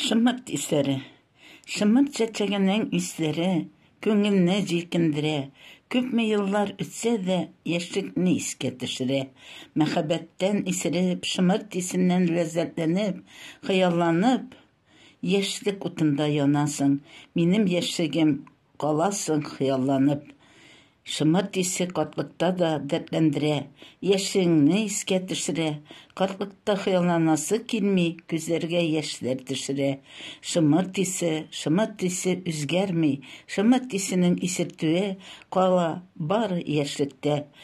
Шымырт исләре. Шымырт чәчәгенең исләре күңелне җилкендерә. Күпме еллар үтсә дә, яшьлекне искә төшерә. Мәхәббәттән исереп, шымырт исеннән ләззәтләнеп, хыялланып, Яшьлек утында янасың, Минем яшьлегем, каласың хыялланып. Шомырт исе картлыкта да дәртләндерә, Яшьлегеңне искә төшерә. Картлыкта хыялланасы килми, Күзләргә яшьләр төшерә. Шомырт исе, шомырт исе үзгәрми, Шомырт исенең исертүе кала бары яшьлектә.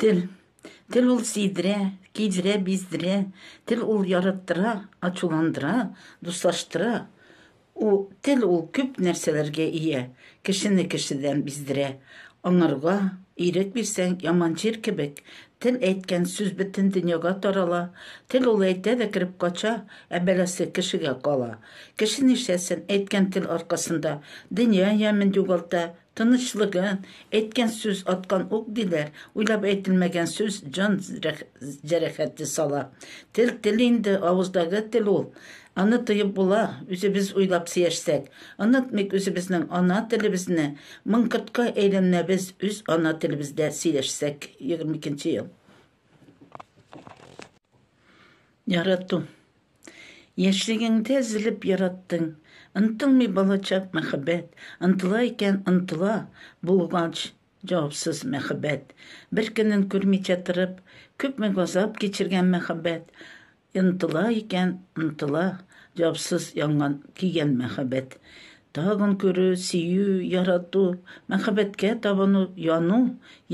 Тел. Тел ул сидре, кидре, биздре. Тел ул яраттыра, ачуландыра, дуслаштыра. У тел ул күп нәрсәләргә ия. Кешене кешедән биздерә. Аңарга ирек бирсәң, яман җир кебек, тел әйткән сүз бөтен дөньяга тарала. Тел ул әйтә дә кереп кача, ә бәласе кешегә кала. Кеше нишләсен, әйткән тел аркасында дөнья ямен югалта, Тынычлыгы, әйткән сүз аткан ук диләр, уйлап әйтелмәгән сүз җан җәрәхәте сала. Тел тел инде, авыздагы тел ул. Аны тоеп була, үзебез уйлап сөяшсәк. Онытмыйк үзебезнең ана телебезне, мын кортка әйләнмәбез үз ана телебездә сөйләшсәк, егерме икенче ел. Ярату. Яшьлегеңдә өзелеп яраттың, Онтылмый балачак мәхәббәт, Онтыла икән, онтыла, Булгач, җавапсыз мәхәббәт. Бер көнен күрмичә торып, Күпме газап кичергән мәхәббәт, Онтыла икән, онтыла, Җавапсыз янган, көйгән мәхәббәт. Тагын күрү, сөю, ярату, мәхәббәткә табыну, яну,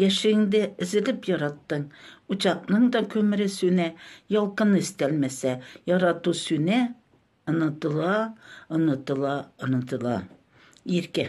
яшьлегеңдә өзелеп яраттың, учакның да күмере сүнә, ялкыны өстәлмәсә, ярату сүнә, онытыла, онытыла, онытыла. Иркә.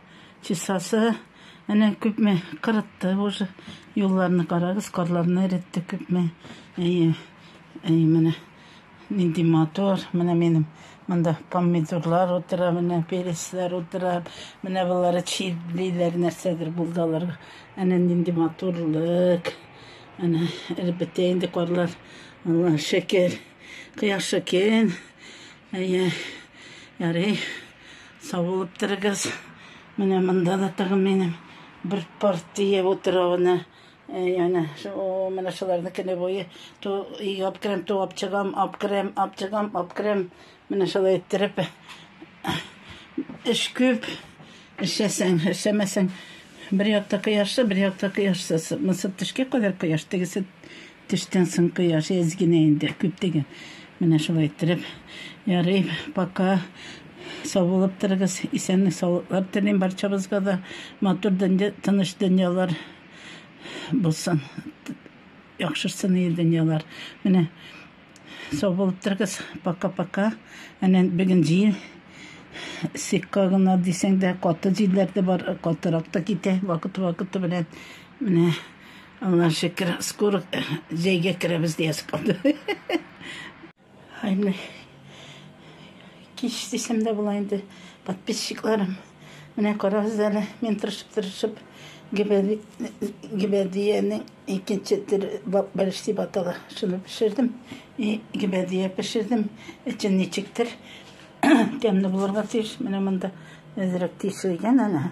Чисасы, әнә күпме кырытты уже. Юлларны карагыз, карларны эретте күпме. Әйе, әйе, менә нинди матур. Менә минем монда помидорлар утыра, менә пересләр утыра. Менә болары чирлиләр, нәрсәдер булды аларга. Әнә нинди матурлык. Әнә эреп бетә инде карлар. Алла шөкер. Кояш шөкер. Әйе, ярый, сау булып торыгыз. Менә монда да тагын минем бер партия утравына яна шул менә шуларны көне буе ту ап керәм, ту ап чыгам, ап керәм, ап чыгам, ап керәм. Менә шулай иттереп эш күп. Эшләсәң, эшләмәсәң, бер якта кояшлы, бер якта кояшсыз. Мысып төшкә кадәр кояш, тегесе Төштән соң кояш әз генә инде, күп түгел. Менә шулай иттереп, ярый, пока. Сау булып торыгыз. Исәнлек, саулыклар телим барчабызга да. Матур дөнья, тыныч дөньялар булсын. Яхшырсын ие дөньялар. Менә сау булып торыгыз. Пока-пока. Әнә бүген җил сикка гына дисәң дә, каты җилләр дә бар, катырак та китә вакыт-вакыты белән. Менә Аллага шөкер, скоро җәйгә керәбез диясе калды. Ай, менә кич дисәм дә була инде, подписчикларым. Менә карагыз әле, мин тырышып-тырышып гибәдиянең икенче төр бәлеш дип атала. Шуны пешердем. И гибәдия пешердем. Эчен ничектер тәмле булырга тиеш. Менә монда әзрәк тишелгән әнә.